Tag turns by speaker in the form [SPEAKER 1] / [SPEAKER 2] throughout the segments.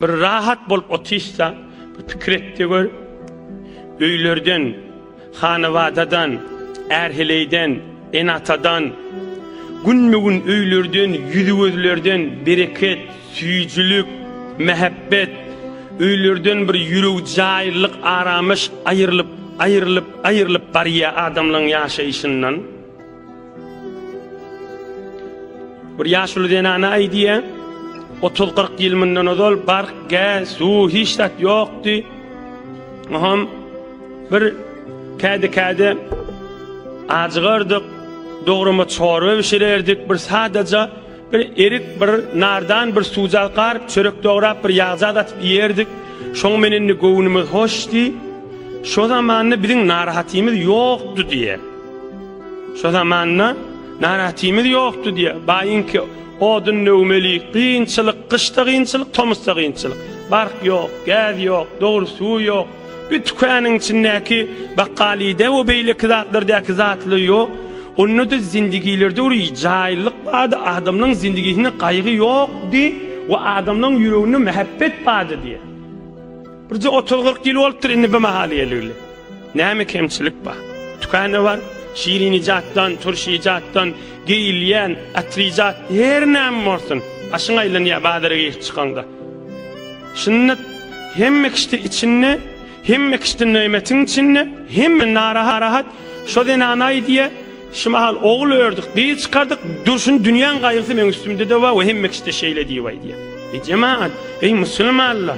[SPEAKER 1] Bir rahat bolup otyşsa, bir pikir et-de gör, öýlerden, hanabadadan, är-heleýden, ene-atadan, günbe-gün öýlerden, ýüzi-gözlerden bereket, süýjülik, mähebbet, öýlerden bir ýüregjäýlylyk, aramyş aýrylyp, aýrylyp, aýrylyp barýa adamlaryň ýaşaýşyndan. Bir ýaşuly zenana aýdýa, 30-40 ýyl mundan ozal bark, gäz, suw hiç zat ýokdy. Oňam bir käde-käde ajygardyk, dograma çorba bişirerdik, bir sadaja Bir erik, bir nardan, bir suwjak garyp, çörek dograp, bir ýagzat atyp iýerdik. Şoň men indi göwnümiz hoş diý. Şo zamanda biziň narahatymyz ýokdy diýe. Şo zamanda narahatymyz ýokdy diýe. Baýyňky odun döwmeli, kynçylyk, gyşda kynçylyk, tomusda kynçylyk. Bark ýok, gäz ýok, dogry suw ýok. Bir tükanyň içindäki bakgalyda we beýleki zatlardäki zatly ýok. Onda-da zindigilerde bir jaýyllyk bardy, adamlaryň zindigisinde gaýgy ýokdy we adamlaryň ýüreginde mähebbet bardy diýýär. Birje otuz-kyrk ýyl bolupdyr indi bu mahal geleli. Näme kemçilik bar? Tükanda bar, şirin ijatdan, turş ijatdan, geýilýän, atyr ijat, her näme bolsun, başyň aýlanýar bazara girip çykaňda. Sünnet hemme kişide içinde, hemme kişide nöýmetiň içinde, hemme narahat, şo zenanaý diýe, şu mahal ogul ördük, gyz çykardyk, durşun dünýäň gaýgysy meň üstümde-de bar we hemme kişide şeýle diýibaý diýe. Eý jemagat, eý musulmanlar,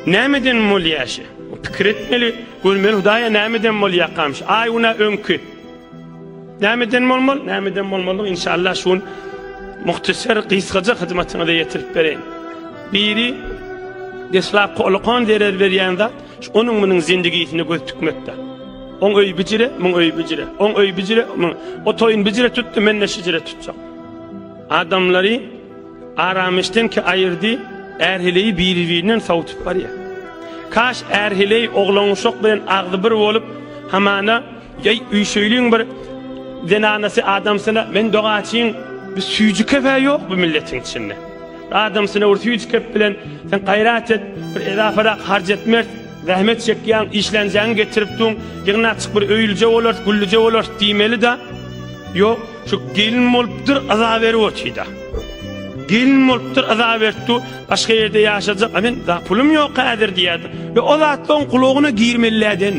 [SPEAKER 1] nämeden bolýa şe? Pikir etmeli, görmeli Hudaýa nämeden bolýakam şe? Aý günä öňki. Nämeden bolmaly? Nämeden bolmaly? Inşallah şu gün muhtasar gysgaja hyzmatyňyza ýetirip bereýin. Biri deslapky ulukan zerer berýän zat, onuň munuň zindigisine göz tikmekde. On öý bijire, muň öý bijire. On öý bijire, muň. O toýun bijire tutdy, men de şijire tutjak. Adamlary aramişden ki ayırdı, erhileyi biri-birinden savutup barýar. Kaş erhileyi oglan uşak bilen agzy bir bolup, hamana Ýeý üýşeýliň bir zenanasy adamsyna men dogaçyň bir süýji kefe ýok bu milletiň içinde. Adamsyna bir süýji kep bilen sen gaýrat et, bir edafarak harç etmert, zähmet çekýäň, işlänjäňi getirip duň, ýygnaçyk bir öýlüje bolar, güllüje bolar diýmeli da. Ýok, şu gelin bolupdyr, yza berip otyda. Gelin bolupdyr, yza beripdi, başga ýerde ýaşajak, a men da pulum ýok häzir diýýärdi. Ýa o zatlaryň kulagyna girmeli däden.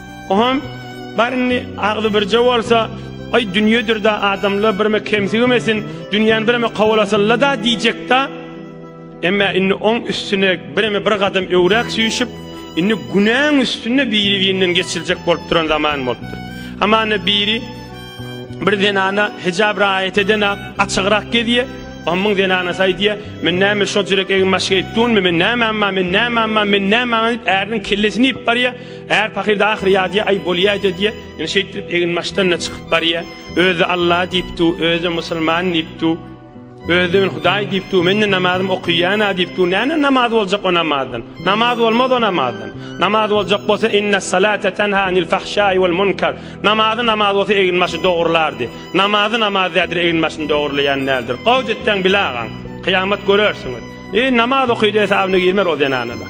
[SPEAKER 1] Oham, bar indi, agzy birje bolsa, Aý, dünýedir-dä, adamlar birme kemsigimesin, dünýäni bireme kowalasylla-da diýjek-dä. Emma indi oň üstüne bireme bir gadam öwräk süýşüp, indi günäň üstünde biri-birinden geçiljek bolup duran zaman bolupdyr. Hamana biri bir zenana hijap raýat edene açygrak gezýär. Ohamyň zenanasy aýdýar, Men näme şojurek egin-başga etdunmy, men näme amma, men näme amma, men näme amma diýip, äriniň kellesini iýip barýar. Är pahyr-da ahyry ýadýa, aý, bolýaýda diýýä. Ýöne şeýtdirip eginbaşdan-da çykyp barýa. Özi Alla diýipdu, özi-de musulman diýipdu. Özi-de men Hudaý diýipdu, men-de namazymy okyýan-a diýipdu. Näme namaz boljak o namazdan? Namaz bolmaz o namazdan. Namaz boljak bolsa Innessalate tenha anil fahşai wal munkar. Namazy namaz bolsa eginbaşy dogrulardy. Namazy namaz däldir, eginbaşyny dogurlaýan däldir. Gowut etseň bile agaň. Kyýamat görersiňiz. Eý, namaz okydy hesabyna girmer o zenana-da.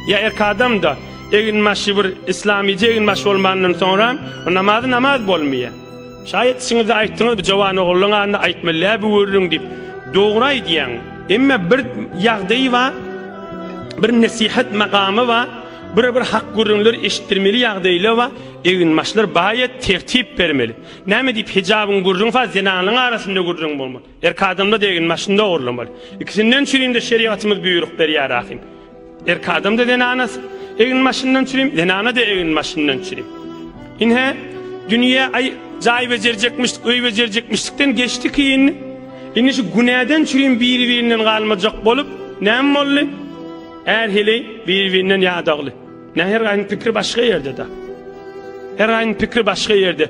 [SPEAKER 1] Ýa erkadam-da. Eginbaşy bir islamyja eginbaş bolmandan soňra namazy namaz bolmaýa. Şaýat işiňizde aýtdyňyz bu jowan ogullyň adyny aýtmylýa bu gürrüň diýip. Dogry aýdýaň. Emme bir ýagdaýy bar. Bir nesihat makamy bar. Bir bir hak gürrüňler eşitdirmeli ýagdaýlar bar. Eginbaşlar baýat tertip bermeli. Näme diýip hijabyň gürrüň fa zenanlaň arasynda gürrüň bolmaly. Erk adamda degin maşynda ogurlamaly. Ikisinden çürimde şerigatymyz büyürük berýär ahim. Erk adamda zenanas egin maşyndan çürim, zenana de egin maşyndan çürim. Inhe dünýä ay jaý bejerjekmişdik, öý bejerjekmişdikden geçdi kiyin. Indi şu günäden çürim biri-birinden galmajak bolup, näm bolly? Är heleý biri-birinden ýadagly. Näher gaýyň pikri başga ýerde-de. Her gaýyň pikri başga ýerde.